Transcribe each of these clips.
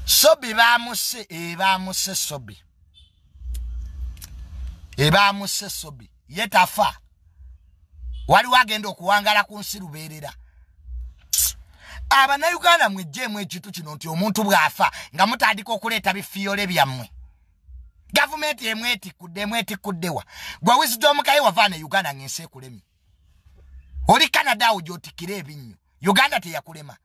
sobi bamuse ebamuse eh, sobi ebamuse eh, sobi ye tafa waliwo agenda okuwangala ku nsi lubeerera abanauganda mwejjeemu ekintu kino nti omuntu bw'afa nga mutandika okuleeta bifiyole byammwe gavumenti emwetikudde emwetikuddewa gwe wizidomukaye wavaana uganda ng'ensi ekulemye oli canada awo gyotikira ebinnyo uganda teyakulema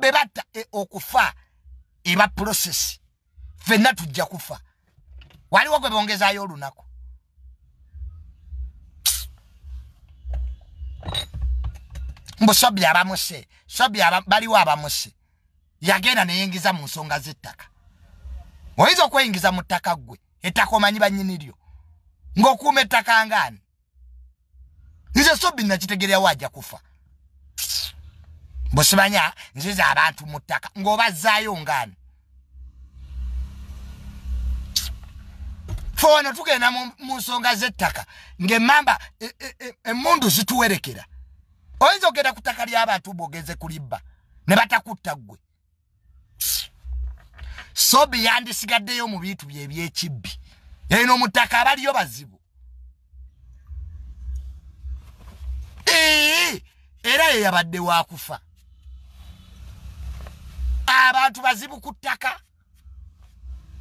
bebatta e, okufa eba process fenna tujja kufa waliwo gwe bongezayo olunaku mbu sobi abamuse sobi baliwo abamuse yagenda neyingiza mu nsonga zettaka oyinza okweyingiza mu ttaka ggwe ettaka omanyi banyini lyo ng'okuuma ettaka ngaani nze sobi nakitegereawo aja kufa busimanya nziza abantu mu ttaka ng'obazaayo ngaani fe wano tugenda mu nsonga z'ettaka ng'emmamba e, e, e, emmundu zituwerekera oyinza okugenda ku ttaka ly'abantu bwogeze kulibba ne batakutta ggwe sobi yandisigaddeyo mu bintu bye ebyekibbi eno mutaka abaliyo bazibu era ye yabadde wakufa abantu bazibu ku ttaka